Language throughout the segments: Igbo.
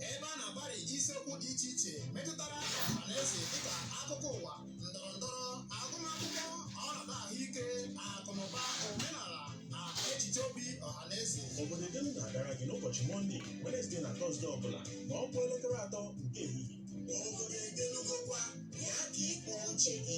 ebe a na-agbari isiokwu dị iche iche metụtara ọha na eze dịka akụkọ ụwa ndọrọ ndọrọ agụmakwụkwọ ọnọdụ ahụike akụnụba omenala na echiche obi ọha na eze obodo edelu na-abịara gị n'ụbọchị mọnde wenesde na tọzde ọbụla ma ọ kụọ elekere atọ nke ehihie obodo edelugokwa ya ka ịkpọ uche gị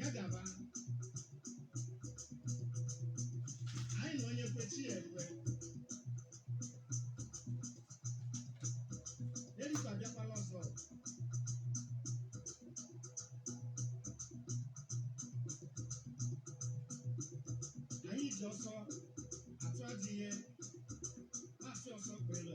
ya gaba anyị na onye kwe chi ya ekwe erika bịakwala ọzọ anyị ji ọsọ atụ adịghị na-asị ọsọ kwere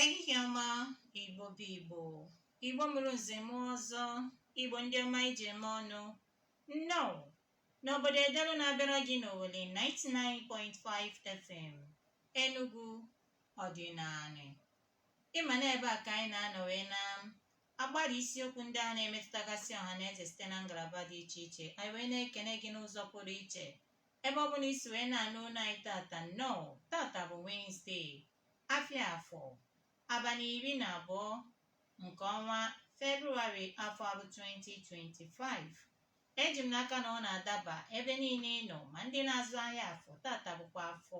ehihie ọma igbo bụ igbo igbo mụrụ nze mụọ ọzọ igbo ndị ọma e ji eme ọnụ nnọọ N'obodo Edelu na-abịara gị n'Owelle 99.5 FM, Enugu ọdịnanị. Ị ma na ebe a ka anyị na-anọ wee na-agbara isiokwu ndị a na-emetụtagasị ọha na eze site na ngalaba dị iche iche anyị wee na-ekene gị n'ụzọ pụrụ iche ebe ọ bụla i si wee na-anụ olu anyị tata nnọọ tata bụ Wednesday afịa afọ abalị iri na abụọ nke ọnwa February afọ a bụ 2025 Eji m n'aka na ọ na-adaba ebe niile ị nọ ma ndị na-azụ ahịa afọ tata bụkwa afọ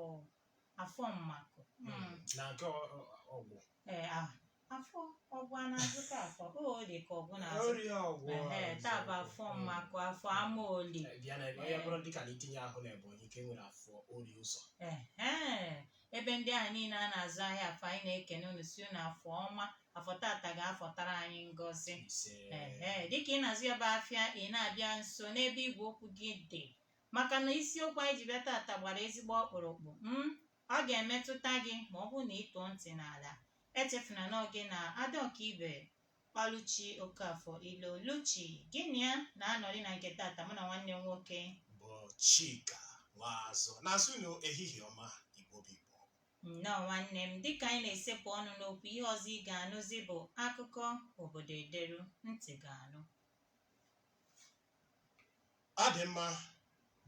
afọ mmakụ Mm. na nke ọ- ọ- ọgwụ Ee, ah, afọ ọgwụ a na-azụta afọ o ọ dị ka ọgwụ na-azụ orie ọgwụ Ehe, taa bụ afọ mmakụ afọ ama oli bịa na onye bụrụ dịka na itinye ahụ na ebonyi ka e nwere afọ oriụzọ Ehe, ebe ndị ahụ niile a na-azụ ahịa afọ anyị na-ekene unu sị unu afọ ọma afọ tata ga-afọtara anyị ngọzi ise ehe dịka ị na-azụ ya bụ afịa ị na-abịa nso n'ebe igwe okwu gị dị maka na isiokwu anyị ji bịa tata gbara ezigbo ọkpụrụkpụ m ọ ga-emetụta gị ma ọ bụrụ na ị tọọ ntị n'ala echefuna na ọ gị na ada ọkaibe Ọlụchi Okafor Ilo Luchi gị na ya na-anọrị na nke tata mụ na nwanne m nwoke bụ Chika Nwaazụ na-asị unu ehihie ọma Igbo bụ Igbo nnọọ nwanne m dịka anyị na-esepụ ọnụ n'okwu ihe ọzọ ị ga-anụzi bụ akụkọ obodo ederu ntị ga-anụ ọ dị mma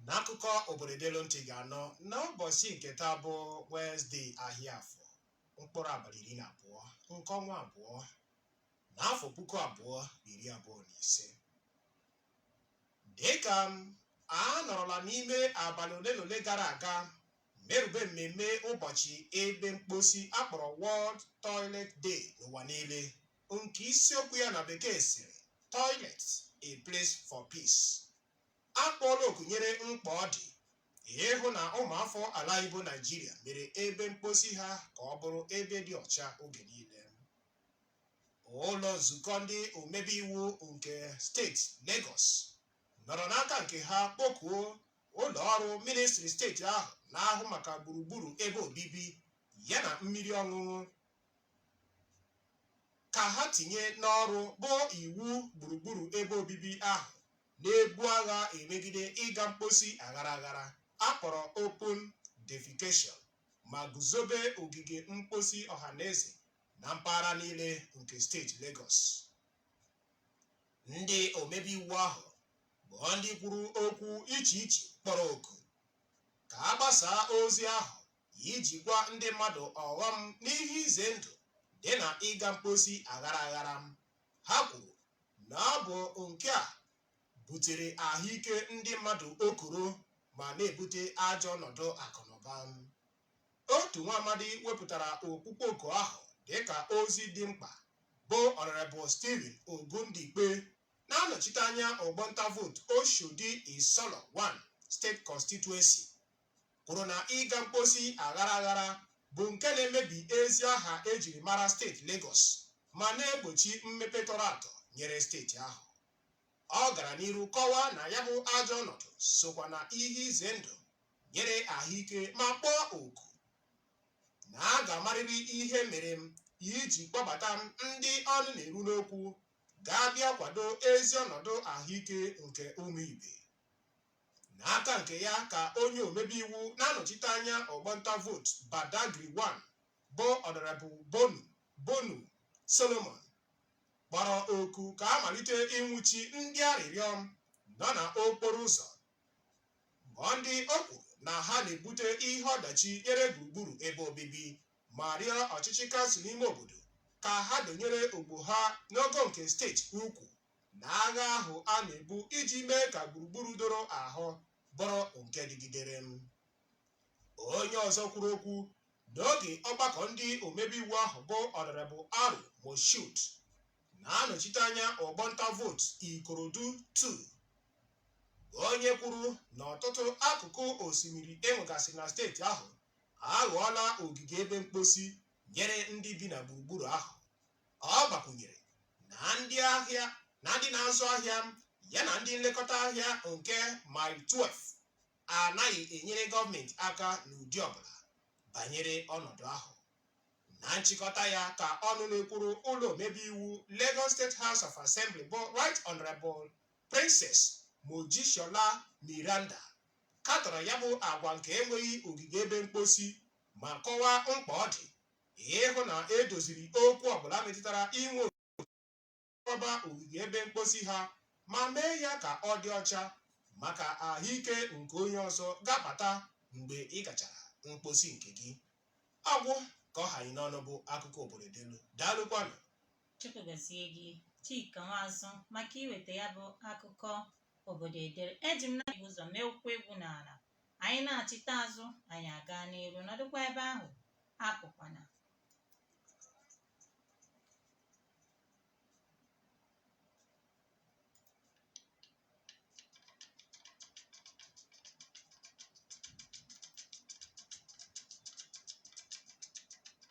na akụkọ obodo edelu ntị ga-anụ n'ụbọchị nke taa bụ Wezdee ahịa afọ mkpụrụ abalị iri na abụọ nke ọnwa abụọ n'afọ puku abụọ na iri abụọ na ise dịka a nọrọla n'ime abalị ole na ole gara aga merube mmemme ụbọchị ebe mkposi a kpọrọ World Toilet Day n'ụwa niile nke isiokwu ya na Bekee sịrị Toilet a Place for Peace A kpọọla oku nyere mkpa ọ dị ịhụ na ụmụafọ ala anyị bụ Naịjirịa mere ebe mkposi ha ka ọ bụrụ ebe dị ọcha oge niile. Ụlọ nzukọ ndị omebe iwu nke steeti Legọs nọrọ n'aka nke ha kpọkuo ụlọ ọrụ ministri steeti ahụ na-ahụ maka gburugburu ebe obibi yana mmiri ọṅụṅụ ka ha tinye n'ọrụ bụ iwu gburugburu ebe obibi ahụ na-ebu agha emegide ịga mkposi aghara aghara a kpọrọ open defecation ma guzobe ogige mkposi ọhaneze na mpaghara niile nke steeti Lagos. Ndị omebe iwu ahụ bụ ndị kwuru okwu iche iche kpọrọ oku ka a gbasaa ozi ahụ iji gwa ndị mmadụ ọghọm na ihe ize ndụ dị na ịga mkposi aghara aghara Ha kwuru na ọ bụ nke a butere ahụike ndị mmadụ okoro ma na-ebute ajọ ọnọdụ akụnụba. Otu nwa amadi wepụtara ọkpụkpọ oku ahụ dịka ozi dị mkpa bụ Honorable Stephen Ogundipe na-anọchite anya ọgbọ nta vootu Oshodi Isolo 1 State Constituency. kwuru na ịga mkposi aghara aghara bụ nke na-emebi ezi aha e jiri mara steeti Legọs ma na-egbochi mmepe tọrọ atọ nyere steeti ahụ. Ọ gara n'iru kọwaa na ya bụ ajọ ọnọdụ sokwa na ihe ize ndụ nyere ahụike ma kpọọ oku na a ga-amarịrị ihe mere m iji kpọbata ndị ọnụ na-eru n'okwu ga-abịa kwado ezi ọnọdụ ahụike nke ụmụ ibe. N'aka nke ya ka onye omebe iwu na-anọchite anya ọgbọ nta vootu Badagry One bụ Honourable Bonu Bonu Solomon kpọrọ oku ka a malite ịnwụchi ndị arịrịọ nọ na okporo ụzọ bụ ndị o kwuru na ha na-ebute ihe ọdachi nyere gburugburu ebe obibi ma rịọ ọchịchị kansụl ime obodo ka ha donyere ogbo ha n'ogo nke steeti ukwu na agha ahụ a na-ebu iji mee ka gburugburu doro ahụ bụrụ nke dịgidere. Onye ọzọ kwuru okwu n'oge ọgbakọ ndị omebe iwu ahụ bụ Ọnọrebụ Aro Moshood na-anọchite anya ọgbọ nta vootu Ikorodu 2 onye kwuru na ọtụtụ akụkụ osimiri enwegasị na steeti ahụ aghọọla ogige ebe mkposi nyere ndị bi na gburugburu ahụ Ọ gbakwụnyere na ndị ahịa na ndị na-azụ ahịa ya na ndị nlekọta ahịa nke Mile 12 anaghị enyere gọọmenti aka n'ụdị ọbụla banyere ọnọdụ ahụ. Na nchịkọta ya ka ọnụ na-ekwuru ụlọ omebe iwu Lagos State House of Assembly bụ Right Honourable Princess Mojisola Meranda katọrọ ya bụ agwa nke enweghị ogige ebe mkposi ma kọwaa mkpa ọ dị ịhụ na e doziri okwu ọbụla metụtara inwe okwaba ogige ebe mkposi ha ma mee ya ka ọ dị ọcha maka ahụike nke onye ọzọ ga-abata mgbe ị gachara mkposi nke gị agwụ ka ọ ha anyị n'ọnụ bụ akụkọ obodo delu daalụkwanụ Chukwu gọzie gị Chika Nwazụ maka iweta ya bụ akụkọ obodo edere eji m na ụzọ mee ụkwụ egwu n'ala Anyị nachịta azụ, anyị aga n'iru, nọdụkwa ebe ahụ, apụkwana.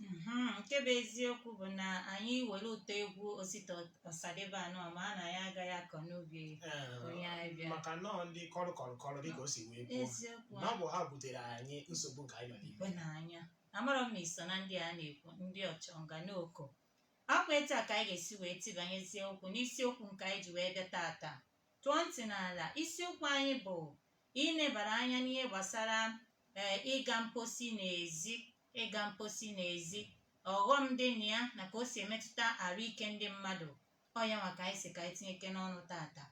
Mhm, nke bụ eziokwu bụ na anyị were ụtọ egwu Osita Osadebe anọ ma a na ya agaghị akọ n'ubi onye anyị bịa maka nọọ ndị kọrọ kọrọ kọrọ dịka o si wee kwuo eziokwu na ọ bụ ha butere anyị nsogbu nke anyị nọ n'ime mgbe n'anya amarọ m ma i so na ndị a na-ekwu ndị ọchọnganoko ọ kwa etu a ka anyị ga-esi wee tibanyezie okwu n'isiokwu nke anyị ji wee bịa tata tọọ ntị n'ala isiokwu anyị bụ inebara anya n'ihe gbasara ee ịga mposi n'ezi ịga mposi n'ezi ọghọm dị na ya na ka o si emetụta arụ ike ndị mmadụ ọ ya nwa ka anyị sị ka anyị tinyekene ọnụ tata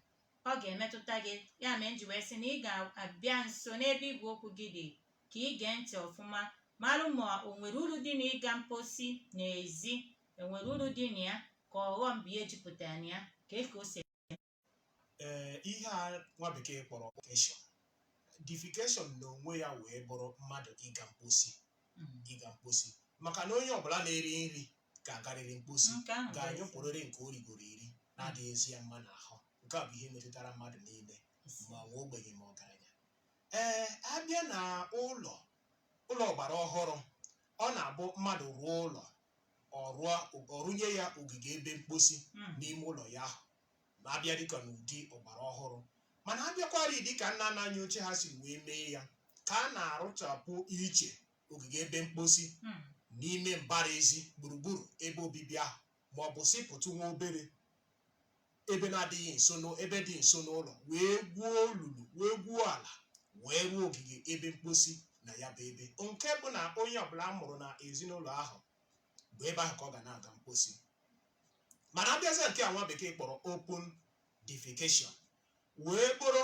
ọ ga-emetụta gị ya mere m ji wee sị na ị ga-abịa nso n'ebe igwe okwu gị dị ka ị gee ntị ọfụma marụ ma o nwere uru dị na ịga mposi n'ezi enwere uru dị na ya ka ọghọm bụ ihe jupụtara na ya ka e ka o si ee ihe a nwa Bekee kpọrọ defecation defecation na onwe ya wee bụrụ mmadụ ịga mkposi ịga mkposi maka na onye ọbụla na-eri nri ga-agarịrị mkposi Nke ahụ bụ ga-anyụpụrịrị nke o rigoro eri na-adịghịzi ya mma n'ahụ nke a bụ ihe metụtara mmadụ niile ezi. ma nwa ogbenye ma ọgaranya ee abịa na ụlọ ụlọ ọgbara ọhụrụ ọ na-abụ mmadụ rụọ ụlọ ọ rụọ ọ rụnye ya ogige ebe mkposi Mm. n'ime ụlọ ya ahụ ma a bịa dịka n'ụdị ọgbara ọhụrụ mana a bịakwarị dịka nna nna anyị ochie ha si wee mee ya ka a na-arụchapụ iche ogige ebe mkposi Hmm. n'ime mbara ezi gburugburu ebe obibi ahụ ma ọ bụ sịpụtụ nwa obere ebe na-adịghị nso n'ụ- ebe dị nso n'ụlọ wee gwuo olulu wee gwuo ala wee rụọ ogige ebe mkposi na ya bụ ebe nke bụ na onye ọbụla a mụrụ na ezinụlọ ahụ bụ ebe ahụ ka ọ ga na-aga mkposi mana a bịazie nke a nwa bekee kpọrọ open defecation wee bụrụ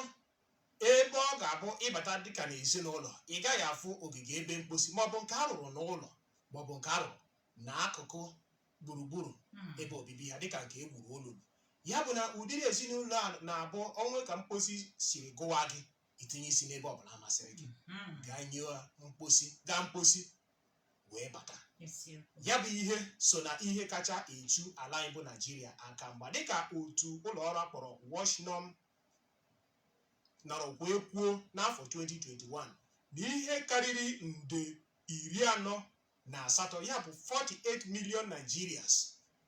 ebe ọ ga-abụ ị bata dịka na ezinụlọ ị gaghị afụ ogige ebe mkposi maọbụ nke a rụrụ n'ụlọ maọbụ nke a rụrụ na akụkụ gburugburu Mm. ebe obibi ya dịka nke e gburu olulu ya bụ na ụdịrị ezinụlọ a na-abụ o nwee ka mkposi siri gụwa gị i tinye isi n'ebe ọbụla masịrị gị Mm. gaa nyụọ mkposi gaa mkposi wee bata ya bụ ihe so na ihe kacha eche ala anyị bụ naijiria aka mgba dịka otu ụlọ ọrụ a kpọrọ washnorm nọrọ wee kwuo n'afọ 2021 na ihe karịrị nde iri anọ na asatọ ya bụ 48 million nigerians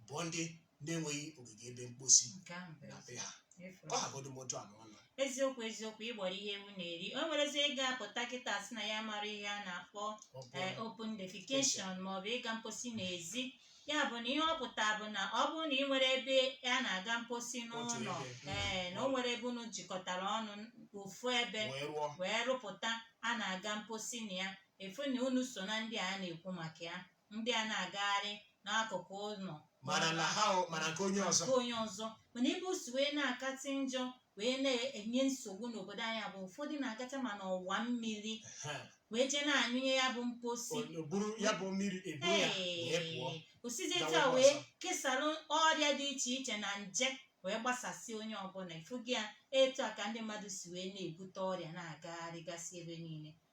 bụ ndị na-enweghị ogige ebe mkposi nke ahụ bụ na be ha efu. ka ọ hagodu m otu a ma ọ nọ eziokwu eziokwu ị gbọrọ ihe ewu na-eri o nwerezi onye ga-apụta kịta sị na ya mara ihe a na-akpọ Ọ bụ- ee open defecation maọbụ ịga mposi n'ezi ya bụ na ihe ọ pụta bụ na ọ bụrụ na ị nwere ebe a na-aga mposi n'ụlọ ebe, mm. ee na o nwere ebe unu jikọtara ọnụ ofu ebe wee rụọ wee rụpụta a na-aga mposi na ya efu na unu so na ndị a na-ekwu maka ya ndị a na-agagharị n'akụkụ ụlọ mana na ha o mana nke onye ọzọ nke onye ọzọ mana ebe o si wee na-akatị njọ wee na-enye nsogbu n'obodo anyị bụ ụfọdụ na-agacha ma n'ọwa mmiri Ha, wee jee na-anyụnye ya bụ mposi o- o buru ya bụ mmiri ebu ya wee pụọ Ee, o sizi etu gawa a ebe wee ọzọ. kesarụ ọrịa dị iche iche na nje wee gbasasị onye ọbụla ị fụgo ya etu a ka ndị mmadụ si wee na-ebute ọrịa na-agagharịgasị ebe niile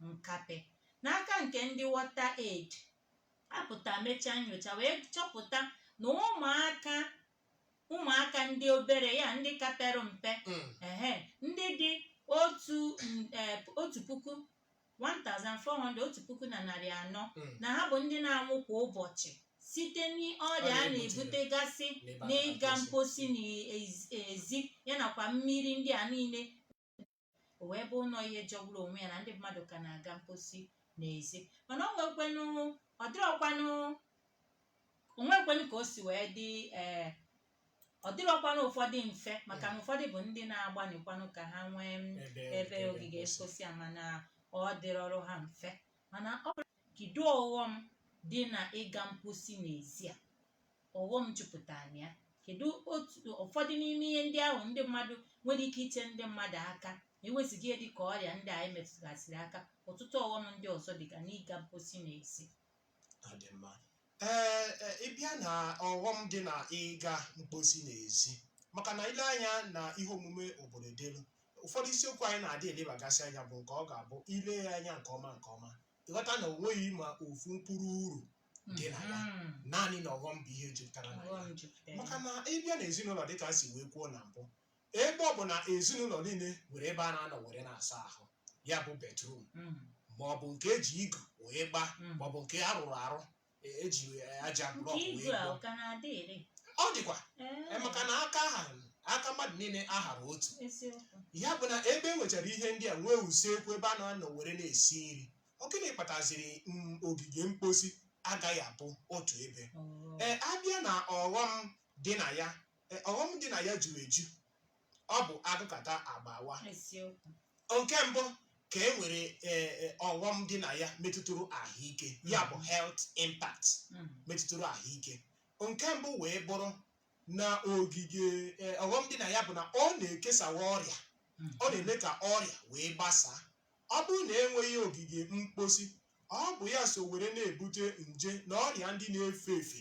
nkape n'aka nke ndị water aid apụta mechaa nyocha wee chọpụta na ụmụaka ụmụaka ndị obere ya ndị ka pere mpe Mm. ehe ndị dị otu n- eh, otu puku 1400 otu puku na narị anọ Mm. na ha bụ ndị na-anwụ kwa ụbọchị site n'ọrịa a Ọrịa na-ebute gasị N'ebe a n'ịga na-akpọsị. mposi n'ezi ya nakwa mmiri ndị a niile o wee bụrụ ihe jọgburu onwe ya na ndị mmadụ ka na-aga mposi n'ezi mana o nwekwenụ ọ dịrọkwanụ o nwekwenụ ka o si wee dị ee ọ dịrọkwanụ ụfọdụ mfe maka na ụfọdụ bụ ndị na-agbanịkwanụ ka ha nwee m, ebe ogige mposi a mana ọ dịrọrọ ha mfe mana ọ bụrụ kedu ọghọm dị na ịga mposi n'ezi a ọghọm jupụtara na ya kedu otu ụfọdụ n'ime ihe ndị ahụ ndị mmadụ nwere ike iche ndị mmadụ aka ma ewezuga ihe dị ka ọrịa ndị a emetụgasịrị aka ọtụtụ ọghọm ndị ọzọ dịga n'ịga mposi na ezi Ọ dị mma. Ee, e, ị bịa na ọghọm dị na ịga mkposi n'ezi maka na ile anya na ihe omume obodo delu ụfọdụ isiokwu anyị na-adị elebagasị anya bụ nke ọ ga-abụ ile ya anya nke ọma nke ọma ịghọta na o nweghị ma ofu mkpụrụ uru dị na ya Mhm. naanị na ọghọm bụ ihe jupụtara na ya Ọghọm jupụtara. maka na ịbịa na ezinụlọ dịka si wee kwuo na mbụ ebe ọ bụ na ezinụlọ niile nwere ebe a na-anọ were na-asa ahụ ya bụ betrum Mhm. ma ọ bụ nke eji igu wee gbaa Mhm. ma ọ bụ nke a rụrụ arụ e- eji aja Nke blọk wee igu a gbuo ọ ka na-adị ire? ọ dịkwa Ee, e, maka na aka aha aka mmadụ niile ahara otu eziokwu. ya bụ na ebe e nwechara ihe ndị a nwee usekwu ebe a na-anọ were na-esi nri Ọ gịnị kpataziri ogige mkposi agaghị abụ otu ebe? Ee, abịa na ọghọm dị na ya, ee, ọghọm dị na ya juru eju. Ọ bụ agụkata agba awaa. Eziokwu. Nke mbụ ka e nwere ee, ee, ọghọm dị na ya metụtụrụ ahụike, ya bụ health impact Mm. metụtụrụ ahụike. Nke mbụ wee bụrụ na ogige ee, ọghọm dị na ya bụ na ọ na-ekesawa ọrịa, ọ na-eme ka ọrịa wee gbasaa. Ọ bụrụ na e nweghị ogige mkposi, ọ bụ ya so were na-ebute nje na ọrịa ndị na-efe efe.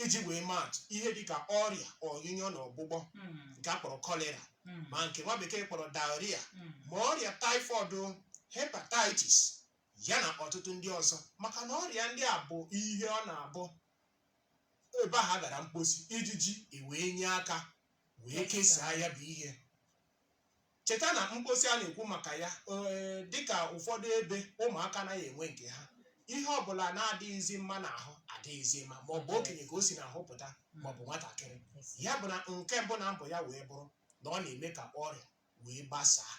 Iji wee maa atụ, ihe dị ka ọrịa ọnyụnyụ na ọgbụgbọ Mm, nke a kpọrọ kọlera mm, ma nke nwa bekee kpọrọ diarrhea mm. ma ọrịa typhoid o, hepatitis ya na ọtụtụ ndị ọzọ maka na ọrịa ndị a bụ ihe ọ na-abụ ebe ahụ a gara mkposi ijiji ewee nye aka wee kesaa ya bụ ihe Cheta na mkposi a na-ekwu maka ya ee dịka ụfọdụ ebe ụmụaka anaghị enwe nke ha ihe ọbụla na-adịghịzi mma n'ahụ adịghịzi mma ma ọ bụ okenye ka o si n'ahụ pụta ma ọ bụ nwatakịrị ya bụ na nke mbụ na mbụ ya wee bụrụ na ọ na-eme ka ọrịa wee gbasaa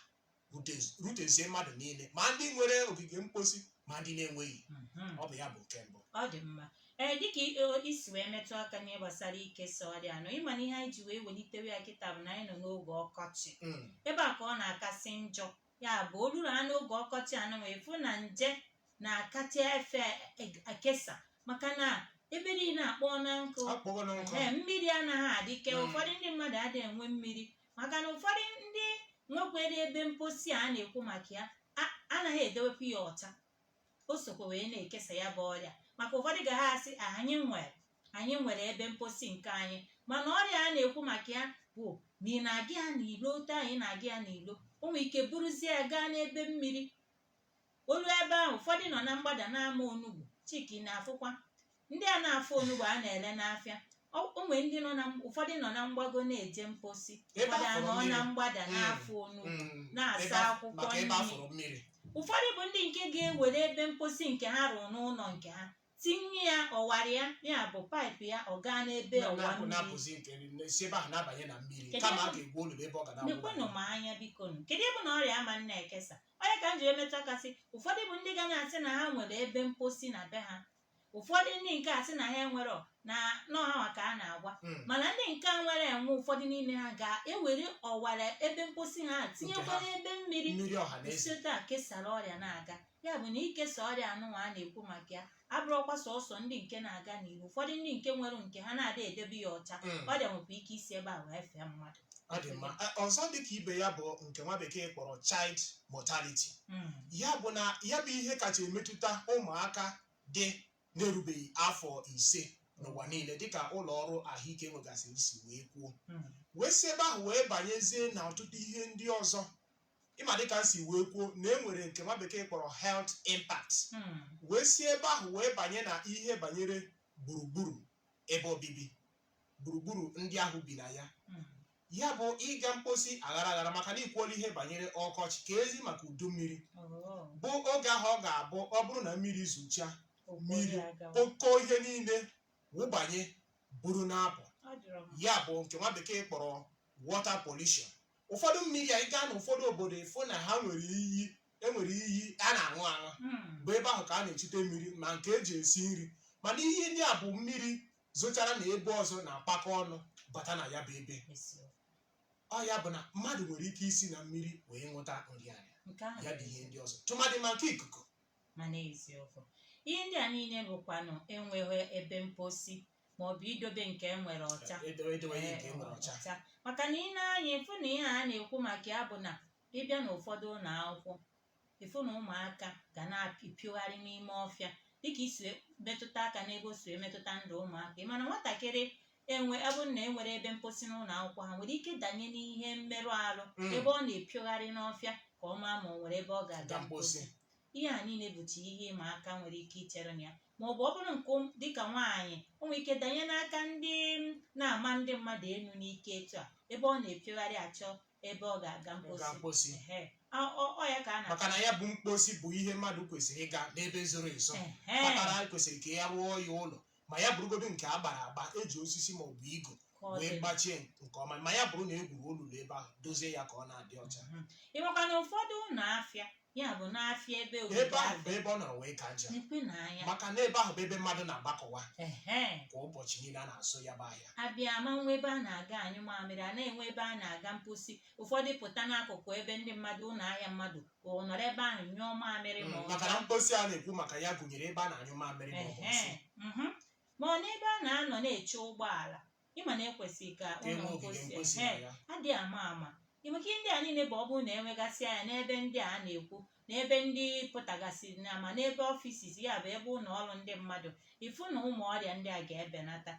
rute- rutezie mmadụ niile ma ndị nwere ogige mkposi ma ndị na-enweghị ọ bụ ya bụ nke mbụ ọ dị mma ee dịka i si wee metụ aka n'ihe gbasara ikesa ọrịa anọ ị ma na ihe anyị ji wee welitewe ya kịta bụ na anyị nọ n'oge ọkọchị Mm. ebe a ka ọ na-akasị njọ ya bụ o ruru ha n'oge ọkọchị anyị wee fụ na nje na-akacha efe e- ekesa maka na ebe niile akpọ na nkụ akpọgo na nkụ ee mmiri anaghị adịke Mm. ụfọdụ ndị mmadụ adịghị enwe mmiri maka na ụfọdụ ndị nwekwere ebe mposi a na-ekwu maka ya a- anaghị edewepụ ya ọcha o sokwa wee na-ekesa ya bụ ọrịa maka ụfọdụ ga ha asị Ah, anyị nwere anyị nwere ebe mposi nke anyị mana ọrịa a na-ekwu maka ya bụ na ị na-aga ya n'ilo otu ahụ ị na-aga ya n'ilo o nwere ike buruzie ya gaa n'ebe mmiri o lue ebe ahụ ụfọdụ nọ na mgbada na-ama onugbu Chika ị na-afụkwa ndị a na-afụ onugbu a na-ele n'afịa ọ o nwere ndị nọ na ụfọdụ nọ na mgbago na-eje mposi Ebe ụfọdụ afụrụ anọ mmiri. na mgbada Mm. na-afụ onugbu Mm, na-asa ebe a- akwụkwọ maka ebe nri. afụrụ mmiri ụfọdụ bụ ndị nke ga-ewere ebe mposi nke ha rụrụ n'ụlọ nke ha tinye ya ọwara ya ya bụ paịpụ ya ọ gaa n'ebe ọwa na-apụ mmiri na-apụzi nke si ebe ahụ na-abanye na mmiri Kedu kama a ebe- ga-egwu olulu ebe ọ ga nekwenụ na-awụ m anya biko nụ kedu ebe na ọrịa ama na-ekesa ọ nya ka m jiri metụ aka sị ụfọdụ bụ ndị ga na-asị na ha nwere ebe mposi na be ha ụfọdụ ndị nke a sị na ha enwere na ọ ha ka a na-agwa Mm. mana ndị nke a nwere enwe ụfọdụ n'ime ha ga-ewere ọwara ebe mposi ha tinyekwara ebe mmiri mmiri ọha na eze si etu a kesara ọrịa na-aga ya bụ na ikesa ọrịa anụnwa a na-ekwu maka ya abụrọkwa sọsọ ndị nke na-aga n'iro ụfọdụ ndị nke nwere nke ha na-adị edebe ya ọcha Mm. ọrịa nwekwa ike isi ebe a wee fee mmadụ ọ dị mma Eh, ọzọ dị ka ibe ya bụ nke nwa bekee kpọrọ child mortality Mm. ya bụ na ya bụ ihe kacha emetụta ụmụaka ndị na-erubeghị afọ ise n'ụwa niile dịka ụlọ ọrụ ahụike nwegasịrị si wee kwuo Mm. wee si ebe ahụ wee banyezie na ọtụtụ ihe ndị ọzọ ị ma dịka m si wee kwuo na e nwere nke nwa bekee kpọrọ health impact Mm. wee si ebe ahụ wee banye na ihe banyere gburugburu ebe obibi gburugburu ndị ahụ bi na ya hmm. ya bụ ịga mposi aghara aghara maka na i kwuola ihe banyere ọkọchị keezi maka udu mmiri oh. bụ oge ahụ ọ ga-abụ ọ bụrụ na mmiri zocha mmiri o kpoo ihe niile wụbanye buru na-apụ ya bụ nke nwa bekee kpọrọ water pollution ụfọdụ mmiri a ị gaa na ụfọdụ obodo ị fụ na ha nwere iyi e nwere iyi a na-aṅụ aṅụ hmm. bụ ebe ahụ ka a na-echute mmiri ma nke e ji esi nri mana iyi ndị a bụ mmiri zochara na ebe ọzọ na-akpakọ ọnụ bata na ya bụ ebe ọ ya bụ na mmadụ nwere ike isi na mmiri wee nwụta nrịanrịa nke ahụ ya bụ ihe ndị ọzọ tụmadị ma nke ikuku ma n'eziokwu ihe ndị a niile bụkwanụ enweghị ebe mposi ma ọ bụ idobe nke e nwere ọcha edo- edowe ihe nke e nwere ọcha ọcha maka na ị nee anya ị fụ na ihe a na-ekwu maka ya bụ na ị bịa n'ụfọdụ ụlọ akwụkwọ ị fụ na ụmụaka ga na-apịogharị n'ime ọfịa dịka i si metụta aka n'ebe o si emetụta ndụ ụmụaka mana nwatakịrị enwe ebe na enwere ebe mposi n'ụlọ akwụkwọ ha nwere ike danye n'ihe mmerụ ahụ mm. ebe ọ na-epiogharị n'ọfịa ka ọ maa ma ọ nwere ebe ọ ga-aga mposi ihe a niile bụcha ihe ịma aka nwere ike ichere na ya ma ọ bụ ọ bụrụ nke dịka nwaanyị o nwere ike danye n'aka ndị na-ama ndị mmadụ elu n'ike etu a ebe ọ na-epiogharị achọ ebe ọ ga-aga Ọ mposi gaa mposi. Ehe. Ọ- ọ ọ ya ka a na maka na ya bụ mposi bụ ihe mmadụ kwesịrị ịga n'ebe zoro ezo Ehe. kpatara kwesịrị ka a rụọ ya ụlọ ma ya bụrụgodo nke a gbara agba e ji osisi ma ọ bụ igu Ka ọ wee dị. gbachie nke ọma ma ya bụrụ na e gwuru olulu ebe ahụ dozie ya ka ọ na-adị ọcha Mhm. ị makwa na ụfọdụ ụlọ afịa ya bụ n'afịa ebe obibi ebe ahụ bụ afịa ebe ọ nọrọ wee ka njọ nekwe na anya maka na ebe ahụ bụ ebe mmadụ na-agbakọwa ehe kwa ụbọchị niile a na-azụ ya bụ ahịa abịa ama enwe ebe a na-aga anyụ mamịrị a na-enwe ebe a na-aga mposi ụfọdụ pụta n'akụkụ ebe ndị mmadụ ụlọ ahịa mmadụ ọ nọrọ ebe ahụ nyụọ mamịrị ma ọ maka na mposi a na-ekwu maka ya gụnyere ebe a na-anyụ mamịrị ma ọ bụ nsị. Ehe, mhm. ma n'ebe a na-anọ na-eche ụgbọala ịma na e kwesịrị ka Ka e ụlọ nwee ogige mposi mposi ehe, na ya. adị ama ama maka ihe ndị a niile bụ ọ bụrụ na enegasị anya n'ebe ndị a na-ekwu n'ebe ndị pụtagasị na ma n'ebe ọfisis ya bụ ebe ụlọ ọrụ ndị mmadụ ịfụ na ụmụ ọrịa ndị a ga-ebenata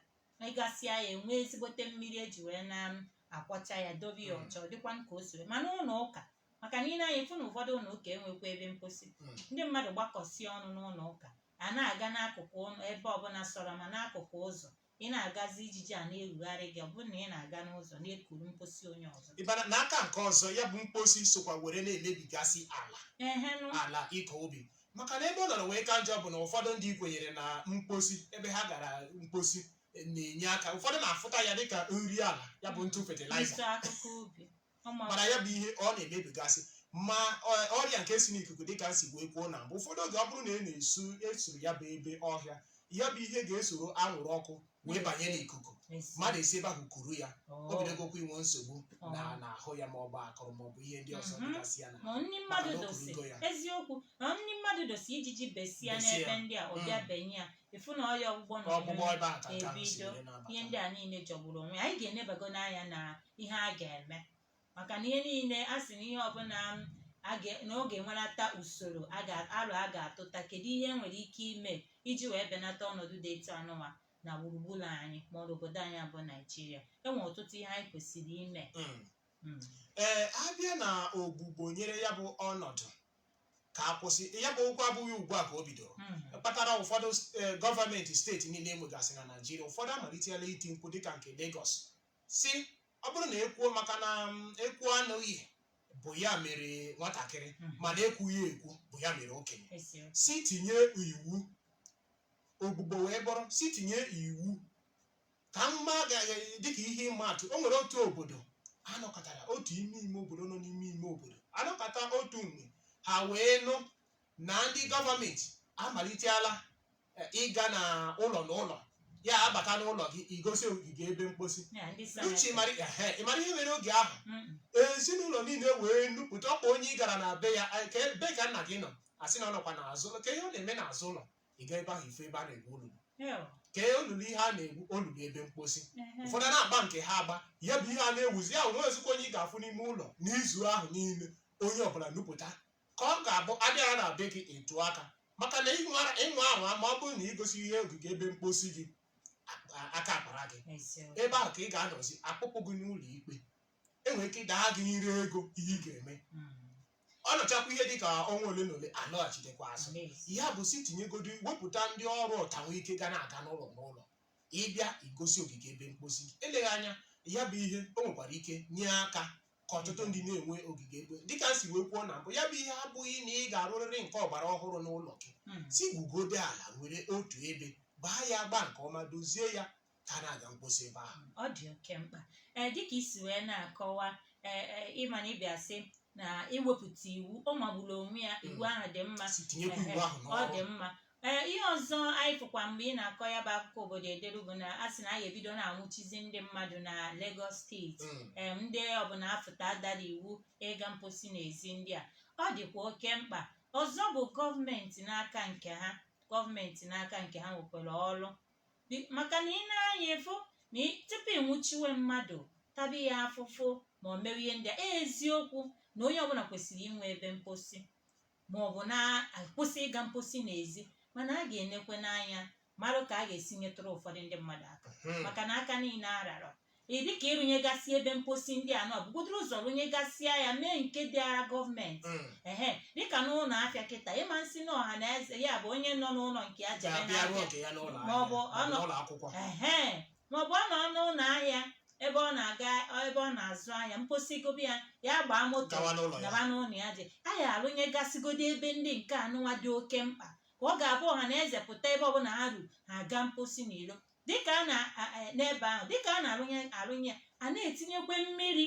ịgasị anya enwee ezigbote mmiri eji wee na-akwọcha ya dobe ya ọcha ọ dịkwa ka o si wee mana ụlọ ụka maka na i nee anya ị fụ na ụfọdụ ụlọ ụka enwekwa ebe mposi Mm. ndị mmadụ gbakọsịa ọnụ n'ụlọ ụka a na-aga n'akụkụ ụlọ- ebe ọbụla sọrọ ma n'akụkụ ụzọ ị na-agazi ijiji a na-erugharị gị ọ bụrụ na ị na-aga n'ụzọ na-ekuru mposi onye ọzọ ị bịa na aka nke ọzọ ya bụ mposi sokwa were na-emebigasị ala ehenụ ala ịkọ ubi maka na ebe ọ nọrọ wee ka njọ bụ na ụfọdụ ndị kwenyere na mposi ebe ha gara mposi eh, na-enye aka ụfọdụ na-afụta ya dịka nri ala ya bụ ntụ ntụ fetịlaịza akụkọ ubi mana ya bụ ihe ọ na-emebigasị ma ọrịa nke si n'ikuku dịka m si wee kwuo na mgbe ụfọdụ oge ọ bụrụ na ị na-esu esuru ya bụ ebe ọhịa ya bụ ihe ga-esoro anwụrụ ọkụ wee banye n'ikuku mmadụ esi ebe ahụ kuru ya o bidogokwa inwe nsogbu na n'ahụ ya ma ọ bụ akụrụ ma ọ bụ ihe ndị ọzọ dịgasị ya na nri mmadụ dosi eziokwu na nri mmadụ dosi ijiji besịa n'ebe ndị a ọ bịa benye ya ị fụ na ọya ọgbụgbọ na ọgbụgbọ ọgbụgbọ ebe a ka nke ahụ si ebido wee na-abata. ihe ndị a niile jọgburu onwe ya. anyị ga-enebago n'anya na ihe a ga-eme maka na ihe niile a sị na ihe ọbụla a ga- na ọ ga-enwerata usoro a ga- arọ a ga-atụta kedu ihe e nwere ike ime iji wee benata ọnọdụ dị etu anụwa na gburugburu anyị ma ọ bụ obodo anyị bụ naijiria e nwere ọtụtụ ihe anyị kwesịrị ime Mm. Mm. ee abịa na ogbugbo nyere ya bụ ọnọdụ ka a kwụsị ya bụ okwu abụghị ugbu a ka o bidoro kpatara ụfọdụ eh, gọọmenti steeti niile enwegasị na naijiria ụfọdụ amalitela iti mkpu dịka nke Lagos si ọ bụrụ na ekwuo maka na mm, ekwuo anụghị bụ ya mere nwatakịrị mana ekwughị ekwu bụ ya mere okenye si tinye iwu ogbugbo wee bụrụ si tinye iwu ka mma dịka ihe ịma atụ o nwere otu obodo anọkata otu ime ime obodo nọ n'ime ime obodo anọkata otu mgbe ha wee nụ na ndị gọọmenti amalitela eh, ịga na ụlọ na ụlọ ya abata n'ụlọ gị i gosi ogige ebe mkposi Ya, ndị sara uche aka. ịmara ehe, ịmara ihe mere oge ahụ Mm, ezinụlọ niile wee nupụta ọkwa onye ị gara na be ya "Ai, kee ebe ka nna gị nọ asị na ọ nọkwa n'azụ ụlọ kee ihe ọ na-eme n'azụ ụlọ ị ga ebe ahụ ịfụ ebe a na-egwu olulu Ehe. kee olulu ihe a na-egwu olulu ebe mposi Ehe. ụfọdụ na-agba nke ha agba ya bụ ihe a na-ewuzi ya nwezikwo onye ị ga-afụ n'ime ụlọ n'izu ahụ niile onye ọbụla nupụta ka ọ ga-abụ abịa ya na-abịa gị etu aka maka na ịnwa ịnwa ahụ ma ọ bụrụ na igosighị ogige ebe mposi gị a- aka akpara gị Eziokwu. ebe ahụ ka ị ga-anọzi akpụkpụ gị n'ụlọ ikpe enwere ike ịda gị nra ego ihe ị ga-eme ọ nọchakwa ihe dị ka ọnwa ole na ole alọghachitekwa azụ ya bụ sị tinyegodi wepụta ndị ọrụ ọtawa ike ga na-aga n'ụlọ n'ụlọ ịbịa igosi ogige ebe mkposi gị eleghị anya ya bụ ihe o nwekwara ike nye aka ka ọtụtụ ndị na-enwe ogige ebe dịka m si wee kwuo na mbụ ya bụ ihe abụghị na ị ga-arụrịrị nke ọgbara ọhụrụ n'ụlọ gị sị gwugodo ala nwere otu ebe gbaa ya agba nke ọma dozie ya ka a na-aga mkposi ebe ahụ ọ dị oke mkpa ee dịka i si wee na-akọwa ee ee ịma na ịbịa sị na iwepụta iwu ọ magburu onwe ya iwu ahụ dị mma sị tinyekwa iwu ahụ ọ dị n'ọrụ mma ee ihe ọzọ anyị fụkwa mgbe ị na-akọ ya bụ akụkọ obodo ederu bụ na a sị na anyị ebido na-anwụchizi ndị mmadụ na Lagos steeti Mm. em ndị ọbụla afụta dara iwu ịga mposi n'ezi ndị a ọ dịkwa oke mkpa ọzọ bụ gọọmenti n'aka nke ha gọọmenti n'aka nke ha nwekwara ọrụ Bi- maka na ị nee anya ịfụ na ị- tupu ị nwụchiwe mmadụ taba ya afụfụ ma ọ mewe ihe ndị a eziokwu na onye ọbụla kwesịrị inwe ebe mposi ma ọ bụ na-akwụsị ịga mposi n'ezi mana a ga-enekwenụ anya marụ ka a ga-esi nyetụrụ ụfọdụ ndị mmadụ aka Hmm. maka na aka niile arara Ị dị ka ịrụnyegasị ebe mposi ndị a nọ bugodoro ụzọ rụnyegasịa ya mee nke dịara gọọmenti Mm. ehe dịka n'ụlọ afịa kịta ịma sị na ọha na eze ya bụ onye nọ n'ụlọ nke ya jebe ga-abịa rụọ n'afịa nke ya n'ụlọ Ma ọ bụ ahịa, ọ nọ- n'ụlọ akwụkwọ ehe maọbụ ọ nọ n'ụlọ ahịa ebe ọ na-aga ebe ọ na-azụ ahịa mposi gụba ya ya gbaa moto gawa n'ụlọ ya gaba n'ụlọ ya je a ya arụnyegasịgodo ebe ndị nke anụnwa dị oke mkpa ka ọ ga-abụ ọha na eze pụta ebe ọbụla ha ru ha aga mposi n'iro dịka a na n'ebe ahụ dịka a na-arụnye arụnye a na-etinyekwe mmiri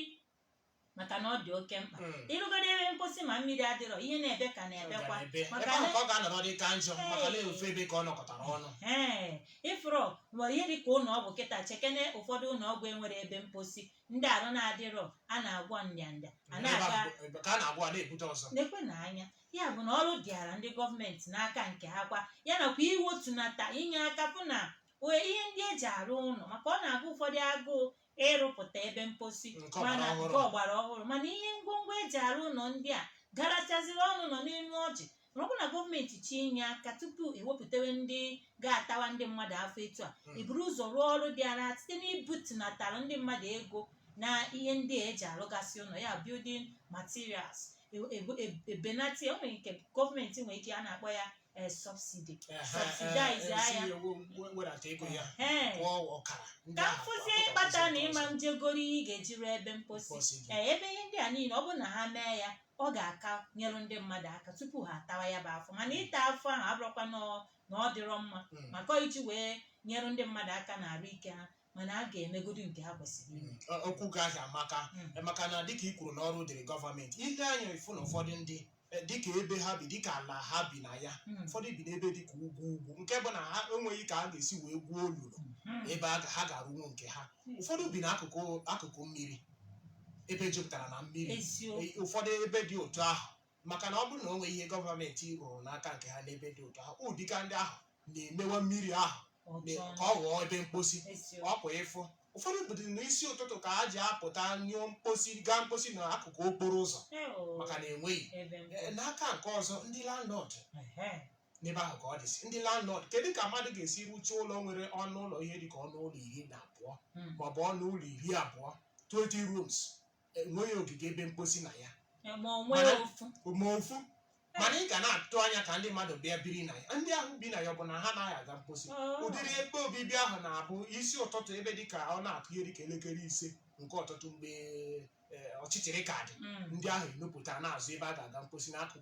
maka na ọ dị oke mkpa Mm. ịrụgoro ebe mposi ma mmiri adịrọ ihe na-ebe ka na-ebekwa Ọ ga-ebe. ebe maka ahụ na ka ọ ga-anọrọ dị ka njọ maka na ofu ebe ka ọ nọkọtara ọnụ ee ịfụrụ were ihe dịka ụlọ ọgwụ kịta chekene ụfọdụ ụlọ ọgwụ enwere ebe mposi ndị arụ na-adịrọ a na-agwọ ndị a Ebe na-aga ahụ- ebe ka a na-agwọ a na-ebute ọzọ nekwenụ anya ya bụ na ọrụ dịara ndị gọọmenti n'aka nke ha kwa ya nakwa iwetunata inye aka fụ na ee ihe ndị eji arụ ụlọ maka ọ na-agụ ụfọdụ agụụ ịrụpụta ebe mposi Nke ọgbara mana ọhụrụ. nke ọgbara ọhụrụ mana ihe ngwongwo eji arụ ụlọ ndị a garachaziri ọnụ nọ n'elu ọjị na ọ bụ na gọọmenti tinye aka tupu ewepụtawe ndị ga-atawa ndị mmadụ afụfụ etu a Mm. eburu ụzọ rụọ ọrụ dịara site n'ibutunatara ndị mmadụ ego na ihe ndị a eji arụgasị ụlọ ya building materials ebenata o nwere nke gọọmenti nwere ike a na-akpọ ya eh, subsidy subsidize ya wedata ego ya Ehe. kwụọ ọkara ndị ka m ahụ fụzie akwụkwọ ihe kpata na ị ma eje goro ihe ị ga-eji rụọ ebe mposi mposi gị. ee ebe ihe ndị a niile ọ bụrụ na ha mee ya ọ ga-aka nyere ndị mmadụ aka tupu ha atawa ya bụ afụfụ mana ịta afụfụ ahụ abụrọkwa na ọ- na ọ dịrọ mma Mm. maka iji wee nyere ndị mmadụ aka na arụ ike ha mana a ga-emegodu nke ha kwesịrị ime Ọ- okwu gị ahụ amaka Mm. maka na dịka i kwuru na ọrụ dịrị gọọmenti i lee anya ị fụ na ụfọdụ ndị eh, dịka ebe ha bi dịka ala ha bi na ya Mm. ụfọdụ bi n'ebe dịka ugwu ugwu nke bụ na ha enweghị ka a ga-esi wee gwuo olulu Mm. ebe a ga- ha ga-arụnwu nke ha ụfọdụ bi n'akụkụ akụkụ mmiri ebe jupụtara na mmiri eziokwu Eh, ụfọdụ ebe dị otu ahụ maka na ọ bụrụ na o nweghị ihe gọọmenti rụrụ n'aka nke ha n'ebe dị otu ahụ ọ dịka ndị ahụ na-emewa mmiri ahụ na- Ọjọọ. ka ọ ghọọ ebe mposi Eziokwu. ọpụ ịfụ ụfọdụ obodo n'isi ụtụtụ ka ha ji apụta nyụọ mposi gaa mposi na akụkụ okporo ụzọ Ee, o. maka na enweghị Ebe mposi. Eh, n'aka nke ọzọ ndị landlord Ehe. n'ebe ahụ ka ọ dịsị ndị landlord kedu ka mmadụ ga-esi rụchaa ụlọ nwere ọnụ ụlọ ihe dịka ọnụ ụlọ iri na abụọ Mm. maọbụ ọnụ ụlọ iri abụọ 20 rooms enweghị ogige ebe mposi na ya ma o nwee Mana- ofu ma ofu mana ị ga na-atụ anya ka ndị mmadụ bịa biri na ya ndị ahụ bi na ya ọ bụ na ha anaghị aga mposi Oh. ụdịrị ebe obibi ahụ na-abụ isi ụtụtụ ebe dị ka ọ na-akụ ihe dị ka elekere ise nke ụtụtụ mgbe eh, ọchịchịrị ka dị Mm. ndị ahụ enupụta na-azọ ebe a ga-aga mposi n'akụkụ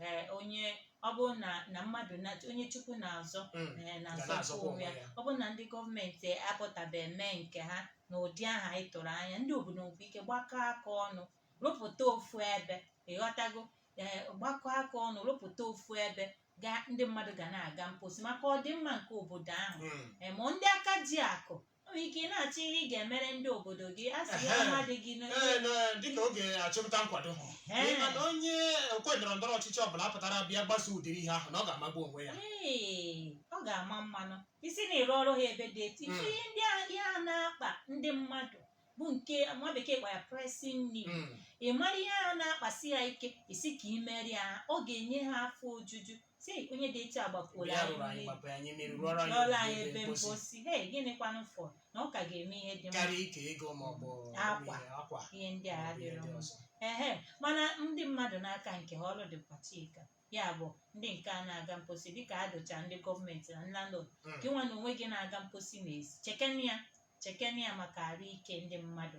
ee onye ọ bụrụ na na mmadụ na onye chukwu na-azọ Mm. ee, Ga na-azọkwa na-azọkwa onwe ya onwe ya. ọ bụrụ na ndị gọọmenti apụtabe mee nke ha na ụdị ahụ anyị tụrụ anya ndị obodo nwekwa ike gbakọ aka ọnụ rụpụta ofu ebe ị ghọtago ee gbakọ aka ọnụ rụpụta ofu ebe ga ndị mmadụ ga na-aga mposi maka ọdịmma nke obodo ahụ Mm. Ee, ma ndị aka ji akụ O nwere ike ị na-achọ ihe ị ga-emere ndị obodo gị a sị ya Ehe. ọma dị gị Ee, n'oge na- dịka oge achụmnta nkwado Ee. Ị ma na onye okwe ndọrọ ndọrọ ọchịchị ọbụla apụtara bịa gbaso ụdịrị ihe ahụ na ọ ga-amagbu onwe ya Ee, ọ ga-ama mma nnọọ ị sị na ị rụọrọ ha ebe dị etu ife Mm. ihe ndị a ihe a na-akpa ndị mmadụ bụ nke nwa bekee kpọrọ pressing need Mm. ị mara ihe a na-akpasi ha ike ị sị ka ị meere ha ọ ga-enye ha afọ ojuju sị onye dị etu a gbapuola Bịa anyị rụrụ anyị mmiri gbapuoro anyị mmiri rụọrọ anyị rụọla anyị ebe ebe mposi mposi hei gịnịkwanụ fọ na ọ ka ga-eme ihe dị mma karịa ike ego ma ọ bụ Akwa. ihe, akwa ihe ndị a ma ọ bụ ihe adịrọ ndị mma ọzọ. ehe mana ndị mmadụ n'aka nke ha ọrụ dịkwa chika ya bụ ndị nke a na-aga mposi dịka a dụcha ndị gọọmenti na landlord Mm. gị nwa na onwe gị na-aga mposi n'ezi chekene ya chekene ya maka arụ ike ndị mmadụ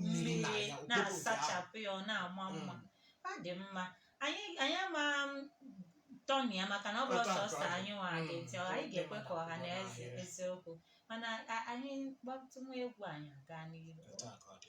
mmiri na mmiri ya na-asachapụ ya ọ na-ama mma ọ dị mma anyị anyị ama tọni ya maka na ọ bụrụ Otu a ka ọ sọsọ dị. anyị nwa Mm. gị ntị anyị ga-ekwe ka ọha na eze Anyị. eziokwu mana a- anyị gbatụ nwa egwu anyị aga n'ihu Otu a ka ọ dị.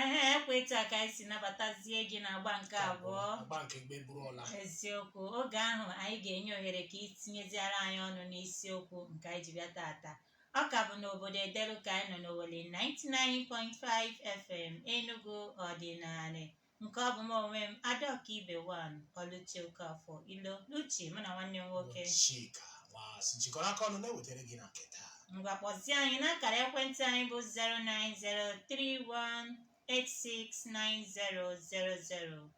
ehe ọ kwa etu a ka anyị si nabatazie gị n'agba nke abụọ agba nke mgbe bụrụ ọla eziokwu oge ahụ anyị ga-enye ohere ka i tinyeziara anyị ọnụ n'isiokwu nke anyị ji bịa taata ọ ka bụ n'obodo edelu ka anyị nọ n'owelle 99.5 fm enugu ọdịnala nke ọ bụ m onwe m adaọka ibe wan ọlụchi okafọ ilo luchi mụ na nwanne m nwoke Chika Nwaazụ jikọrọ aka ọnụ na-ewetara gị na nke taa ngwa kpọzie anyị n'akara ekwentị anyị bụ 09031869000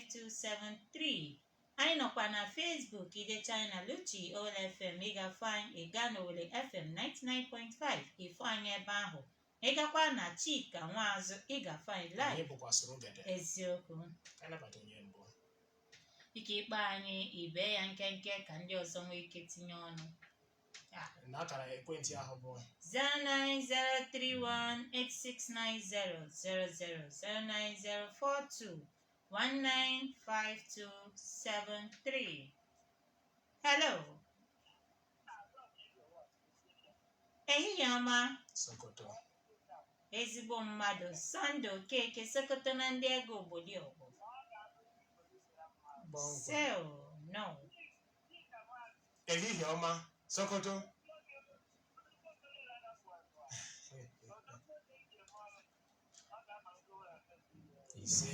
09042195273 anyị nọkwa na Facebook idecha anyị na Luchi Owelle FM ị ga-afụ anyị ị gaa n'Owelle FM 99.5 ị fụ anyị ebe ahụ Ị gakwa na Chika Nwaazụ, ị ga-afụ anyị live. Anyị bụkwa soro gede. Eziokwu. Ka anyị nabata onye mbụ. Ike ị kpọọ anyị i bee ya nkenke ka ndị ọzọ nwee ike tinye ọnụ. Ah, Na akara ekwentị ahụ bụ 09031869000 09042195273. Hello. ehihie ọma Sokoto. ezigbo mmadụ sunday okeke sokoto na ndị ego obodo ọgbọ Kpọmkwem. sel no Ehihie ọma, Sokoto. Ise.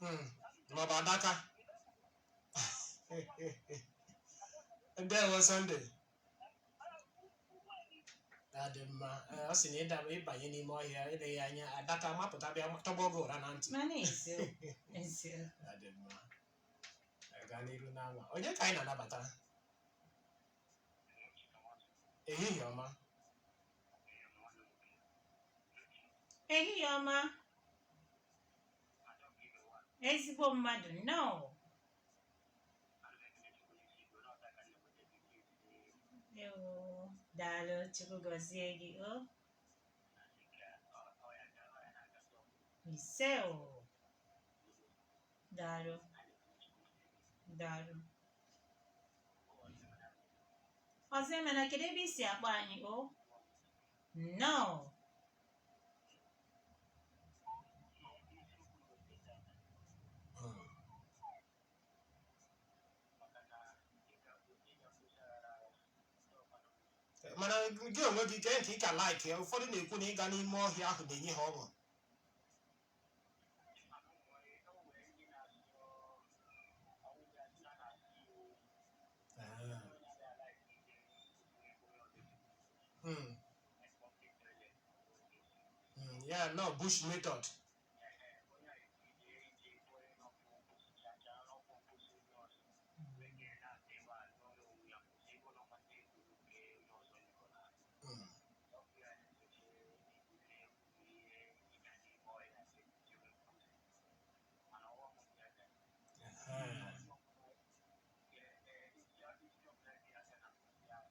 Mm. maọbụ adaka ndewo Sunday adị m mma Ee, ọ sị na ịda- ịbanye n'ime ọhịa eleghị anya adaka mapụta bịa tọgbọ gị ụra na ntị Mana eze eze adị mma Anyị gaa n'iru n'anwa onye ka anyị na-anabata ehihie ọma ehihie ọma ezigbo mmadụ nnọọ ewo daalụ chukwu gọzie gị o ise o daalụ daalụ ọzọ emena kedu ebe i si akpọ anyị o nnọọ mana gị onwe gị kee nke ị ka like ya ụfọdụ na-ekwu na ịga n'ime ọhịa ahụ na-enye ha ọṅụ Mm, ya nọ bush method Mm, eh,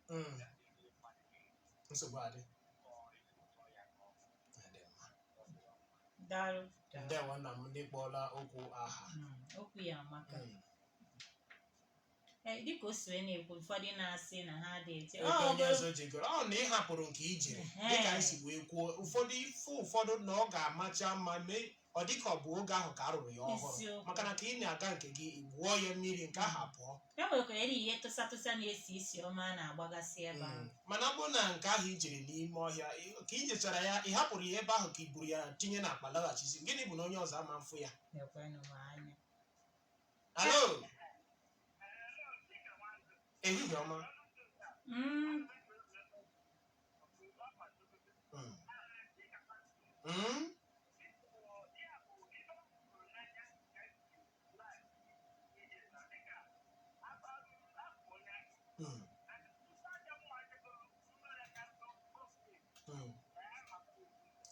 Mm. nsogbu adị Adị mma. daalụ daalụ. ndewo nna m ị kpọọla okwu aha Mm, okwu ya amaka Mm. Eh, dịka o si wee na-ekwu ụfọdụ na-asị na ha dirty Ebe Ọ, onye ọzọ jegoro ọ na ị hapụrụ nke i jere Ehe. dịka anyị si wee kwuo ụfọdụ ife ụfọdụ na ọ ga-amacha mma mee ọ dị ka ọ bụ oge ahụ ka a rụrụ ya ọhụrụ Eziokwu. maka na ka ị na-aga nke gị ị wụọ ya mmiri nke ahụ apụọ e nwekwara eri ihe tụsa tụsa na-esi isi ọma a na-agbagasị ebe ahụ Mm. mana ọ bụrụ na nke ahụ i jere n'ime ọhịa ị- ka i jechara ya ị hapụrụ ya ebe ahụ ka i buru ya tinye n'akpa laghachizi gịnị bụ na onye ọzọ ama mfụ ya na-ekwenụ m anya hello ehihie ọma Mm, Mm. Mm. Mm. Mm.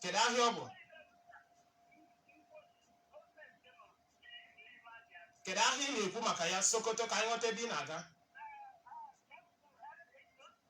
Kedu ahịa ọ bụ? Kedu ahịa ị na-ekwu maka ya Sokoto ka anyị ghọta ebe ị na-aga?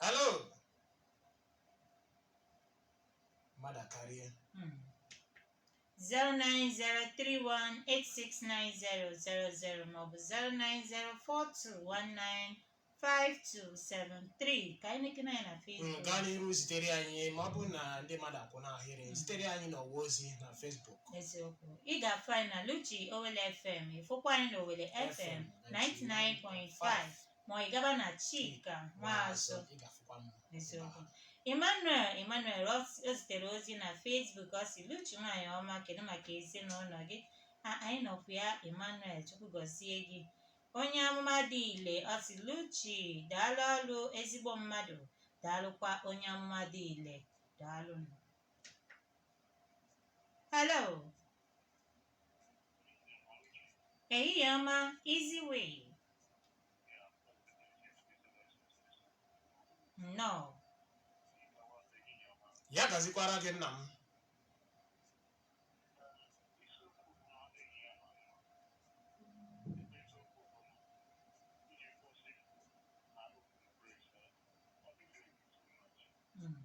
Hello. Mmadụ akarịa. Hmm. 09031869000 maọbụ 09042195273 ka anyị na-ekene anyị na Facebook. Nke a n'iru zitere anyị ma ọ bụrụ na ndị mmadụ kwụ n'ahịrị zitere anyị n'ọwa ozi na Facebook. eziokwu ị ga-afụ anyị na Luchi Owelle FM ị fụkwa anyị na Owelle FM 99.5 ma ị gaba na chika nwaazụ ị ga-afụkwa m n'eziokwu emmanuel emmanuel ọ s- o zitere ozi na facebook ọ si luchi nwaanyị ọma kedu maka ezinụlọ gị a anyị nọkwa ya emmanuel chukwu gọzie gị onye amụma dị ile ọ si luchi daalụ ọlụ ezigbo mmadụ daalụkwa onye amụma dị ile daalụ hello Ehihie ọma, Easy Way. Nnọọ. ya gazikwaara gị nna m Mm.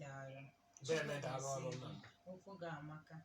daalụ Deme daalụ ọrụ nna m. okwu gị amaka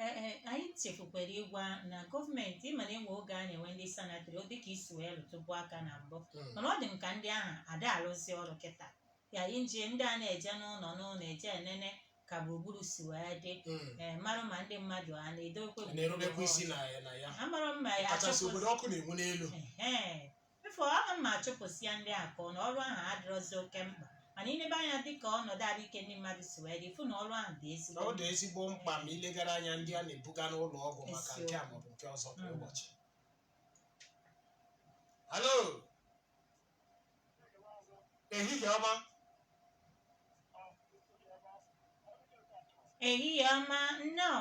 ee anyị chefukwara ịgwa na gọọmenti ị ma na e nwee oge a na-enwe ndị sanitary ọ dịka i si wee lụtụbu aka na mbụ Mm. mana ọ dị m ka ndị ahụ ada alụzi ọrụ kịta ya inji ndị a na-eje n'ụlọ n'ụlọ eje enene ka gburugburu si wee dị Mm. ee mara ma ndị mmadụ a na-edokwe A na-erubekwa isi na ya na ya amara mma ya kachasị achọpụzi obodo ọkụ na-enwu n'elu Ehe. Efu ọnụ m ma a chụpụsịa ndị a ka ọ na ọrụ ahụ adịrọzi oke mkpa mana i lebe anya dịka ọnọdụ ahụike ndị mmadụ si wee dị ị fụ na ọrụ ahụ dị ezigbo ọ dị ezigbo mkpa ma i legara anya ndị a na-ebuga n'ụlọ ọgwụ maka nke a maọbụ nke ọzọ kwa ụbọchị halo ehihie ọma ehihie ọma nnọọ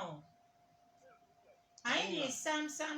anyị dị sam sam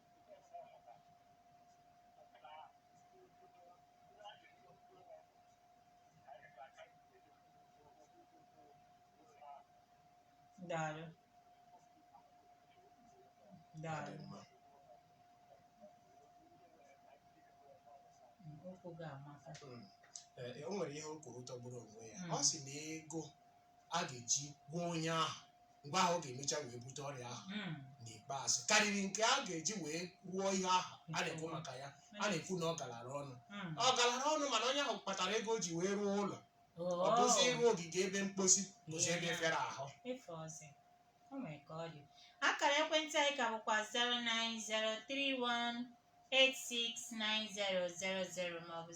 Daalụ. Daalụ. Okwu gị amaka. Mm. Eh, eh, o nwere ihe o kwuru tọgburu onwe ya ọ sị na ego a ga-eji gwọọ onye ahụ mgbe ahụ ọ ga-emecha wee bute ọrịa ahụ Mm. n'ikpeazụ karịrị nke a ga-eji wee rụọ ihe ahụ a na-ekwu maka ya a na-ekwu na ọ galara ọnụ Mm. ọ galara ọnụ mana onye ahụ kpatara ego o ji wee rụọ ụlọ ọ Oh. bụzi ịrụ ogige ebe mkposi bụzi ebe fịara ahụ Ife ọzọ. O nwere ka ọ dị. Akara ekwentị anyị ka bụkwa 080261768869000 maọbụ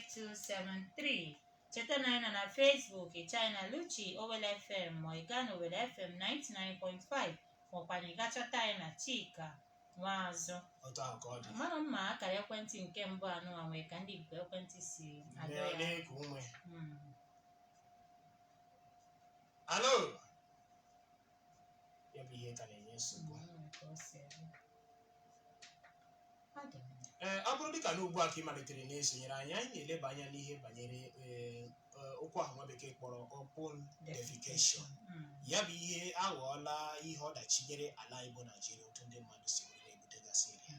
09042195273 cheta na anyị nọ na Facebook ị chọọ anyị na Oluchi Owelle FM ma ị gaa n'Owelle FM 99.5 maọkwanụ ị ga chọta anyị na Chika Nwaazụ otu ahụ ka ọ dị mara mma akara ekwentị nke mbụ anụwa nwee ka ndị ikuku ekwentị si adọ Mmiri ya na-eku ume Mm. halo ya bụ ihe ka na-enye nsogbu ee ọ bụrụ dịka na ugbu a ka ị malitere na-esonyere anyị anyị na-eleba anya n'ihe banyere ee, ee, okwu ahụ nwa bekee kpọrọ open defecation ya bụ ihe aghọọla ihe ọdachi nyere ala anyị bụ Naijiria otu ndị mmadụ si were na-ebutegasị ọrịa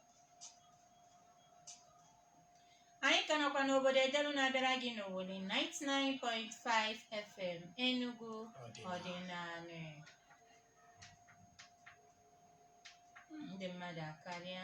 anyị ka nọkwa n'obodo edelu na-abịara gị n'owelle 99.5 fm enugu ọdịnala ndị mmadụ akarịa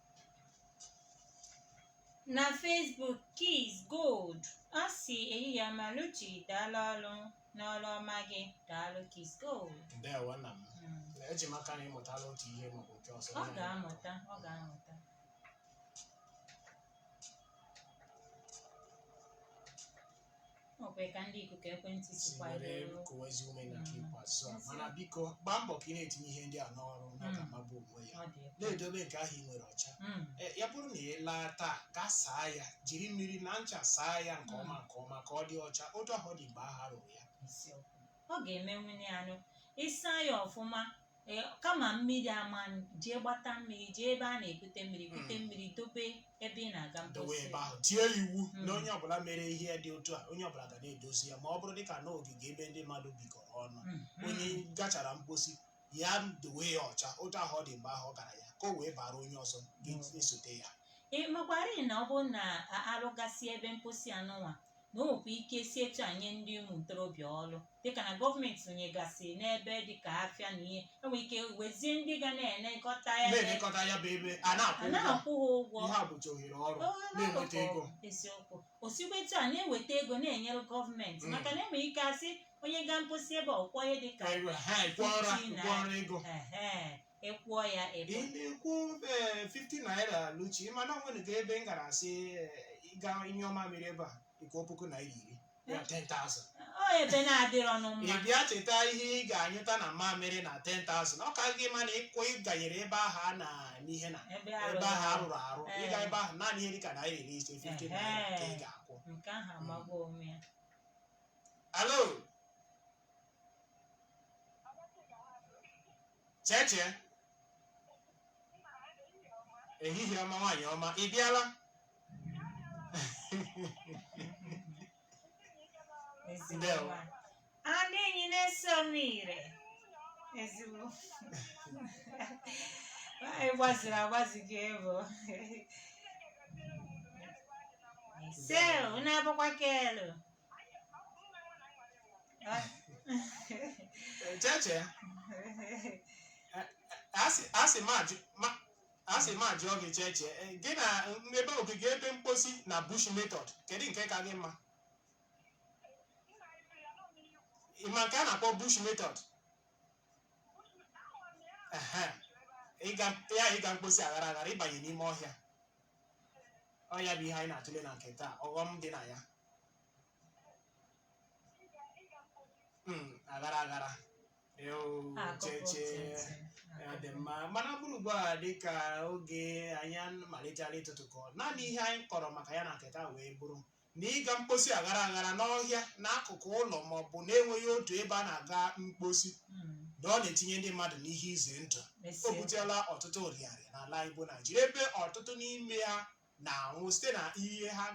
na Facebook Kiz Gold ọ sị ehihie ọma Luchi daalụ ọrụ n'ọrụ ọma gị daalụ Kiz Gold ndewo nna m Mm. eji m aka na ị mụtala otu ihe maọbụ nke ọzọ ọ ga-amụta ọ ga-amụta Ọ kwere ka ndị ikuku ekwentị si sikwa were ruo. kụwa ezi ume na nke ikpeazụ a mana biko gbaa mbọ ka ị na-etinye ihe ndị a n'ọrụ na ọ ga-amagbu onwe ya Ọ dị egwu. na-edobe nke ahụ ị nwere ọcha Mm. E, ya bụrụ na ị laa taa gaa saa ya jiri mmiri na ncha saa ya nke ọma nke ọma ka ọ dị ọcha otu ahụ ọ dị mgbe ahụ a rụrụ ya Eziokwu. Ọ ga-emenwunye anụ. Ị saa ya ọfụma ee kama mmiri ama jee gbata mmiri jee ebe a na-ebute mmiri bute Mm. mmiri dobe ebe ị na-aga dowe mposi ebe ahụ tie iwu Mm. na onye ọbụla mere ihe dị otu a onye ọbụla ga na-edozi ya ma ọ bụrụ dịka na ogige ebe ndị mmadụ bikọrọ ọnụ Mhm. onye gachara mposi ya dowe ya ọcha otu ahụ ọ dị mgbe ahụ ọ gara ya ka o wee bara onye ọzọ ga-esote ya ị makwarị na ọ bụrụ na a- arụgasị ebe mposi a nụnwa na o nwekwa ike si etu a nye ndị ụmụ ntorobịa ọrụ dịka na gọọmenti rụnyegasị n'ebe dịka afịa na ihe e nwere ike wezie ndị ga na-elekọta ya na-elekọta ya bụ ebe a na-akwụ ha ụgwọ na-akwụ ha ụgwọ ihe a bụcha ohere ọrụ Ọ na-enweta na-akwụ ego eziokwu o sikwa etu a na-eweta ego na-enyere gọọmenti Mm. maka na e nwere ike a sị onye gaa mposi ebe a ọ kwụọ ihe dịka Anyị were- ha kwụọra Fifty naira ego ehe ị kwụọ ya ịbụ ị na-ekwu eh, 50 naira luchi mana o nwerekwa ebe m gara a sị eh, ị gaa nyụọ mamịrị ebe a ị kwụọ puku naira iri ya 10,000 ọ ebe na-adịrọ nụ mma ị bịa cheta ihe ị ga-anyụta na mamịrị na 10,000 ọ ka gị mma na ịkwụ ịganyere ebe ahụ a na n'ihe na ebe ebe ahụ arụ a rụrụ arụ Ee. ị gaa ebe ahụ naanị ihe dịka naira iri ise 50 naira ka ị ga-akwụ nke ahụ amagbuo onwe ya hello cheche ehihie ọma nwaanyị ọma ị bịala Ndewo. Anụ enyi na-eso m ire. Ezigbo. Anyị gbaziri agbazi gị ebo. Sel, unu abụkwa kelu. cheche asị m ajụọ gị cheche gị na ebe ogige ebe mkposi na bush method kedu nke ka gị mma ịma nke a na-akpọ bush method ya ịga mkposi aghara aghara ịbanye n'ime ọhịa ọ ya bụ ihe anyị na-atụle na nke taa ọghọm dị na ya Mm, aghara aghara Eo, cheche ya dị mma mana ọ bụrụ ugbu a dịka oge anyị malitere ịtụtụkọ naanị ihe anyị kọrọ maka ya na nke taa wee bụrụ na ịga mkposi aghara aghara n'ọhịa n'akụkụ ụlọ ma ọ bụ na-enweghị otu ebe a na-aga mkposi Mm. na ọ na-etinye ndị mmadụ n'ihe ize ndụ o N'ezie. butela ọtụtụ nrịanrịa n'ala anyị bụ naijiria ebe ọtụtụ n'ime ha na-anwụ site na ihe ha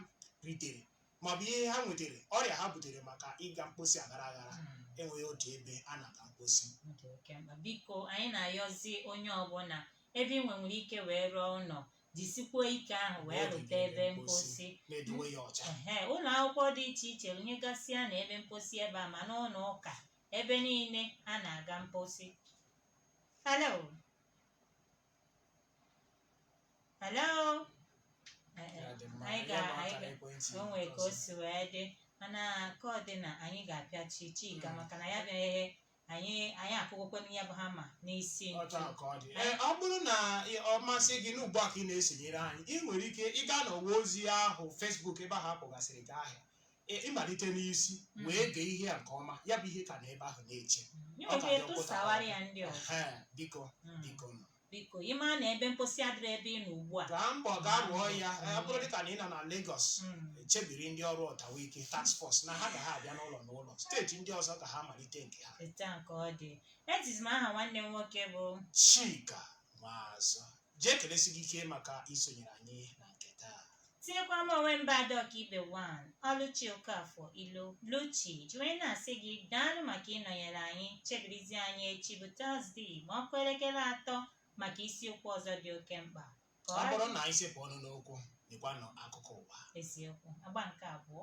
ritere maọbụ ihe ha nwetara ọrịa ha butere maka ịga mkposi aghara aghara Mm. enweghị otu ebe a na-aga mkposi Ọ dị oke mkpa. biko anyị na-ayọzi onye ọbụla ebe ị nwenwere ike wee rụọ ụlọ jisikwuo ike ahụ wee N'oge rụta niile ebe mposi na-edowe ya ọcha ehe ụlọ akwụkwọ dị iche iche rụnyegasịa na ebe mposi ebe a ma n'ụlọ ụka ebe niile a na-aga mposi hello hello Eh, eh, Ya dị mma, anyị ya ga bụ anyị akara ga ekwentị o nwere ka o ọzọ. si wee dị mana ka ọ dị na anyị ga-apịachi chika maka na ya bịaghị anyị anyị akụgokwana ya bụ hama n'isi ntu otu ahụ ka ọ dị Ee, ọ bụrụ na ị- ọ masị gị na ugbu a ka ị na-esonyere anyị ị nwere ike ịga n'ọwa ozi ahụ Facebook ebe ahụ a kpọgasịrị gị aha Ị- ịmalite n'isi Mm. wee gee ihe a nke ọma ya bụ ihe ka nọ ebe ahụ na-eche Nye Ọ ka oge dị ọkpụta. tụsawara ya ndị ọzọ Ehe, biko Mm. biko nụ Biko, ị maa na ebe mposi adịrọ ebe ị nọ ugbu a? Gbaa mbọ gaa rụọ ya. Ee, Ọ bụrụ dịka na ị nọ na Lagos, Mm. chebiri ndị ọrụ ọtawike task force na ha ga ha abịa n'ụlọ n'ụlọ steeti ndị ọzọ ka ha malite nke ha Etu a ka ọ dị. Ejizi m aha nwanne m nwoke bụ chika maazụ jee kelesi gị ike maka isonyere anyị na nke taa tinyekwa m onwe m bụ ada ọkaibe 1 ọlụchi okafọ ilo luchi jiri na-asị gị daalụ maka ịnọnyere anyị chebirizi anyị echi bụ tọzdee ma ọ kụọ elekere atọ maka isiokwu ọzọ dị oke mkpa ka ọ bụrụ na anyị sepụ ọnụ n'okwu dịkwanụ akụkọ ụwa eziokwu agba nke abụọ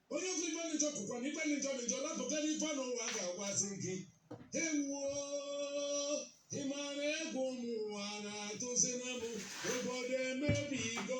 onye kwuo ibe dị njọ kwukwa na ibe dị njọ dị njọ napụta n'ife na ụwa ga-agwazi gị ewoo ị mara egwu ụmụ ụwa na-atụzi na m obodo emebigo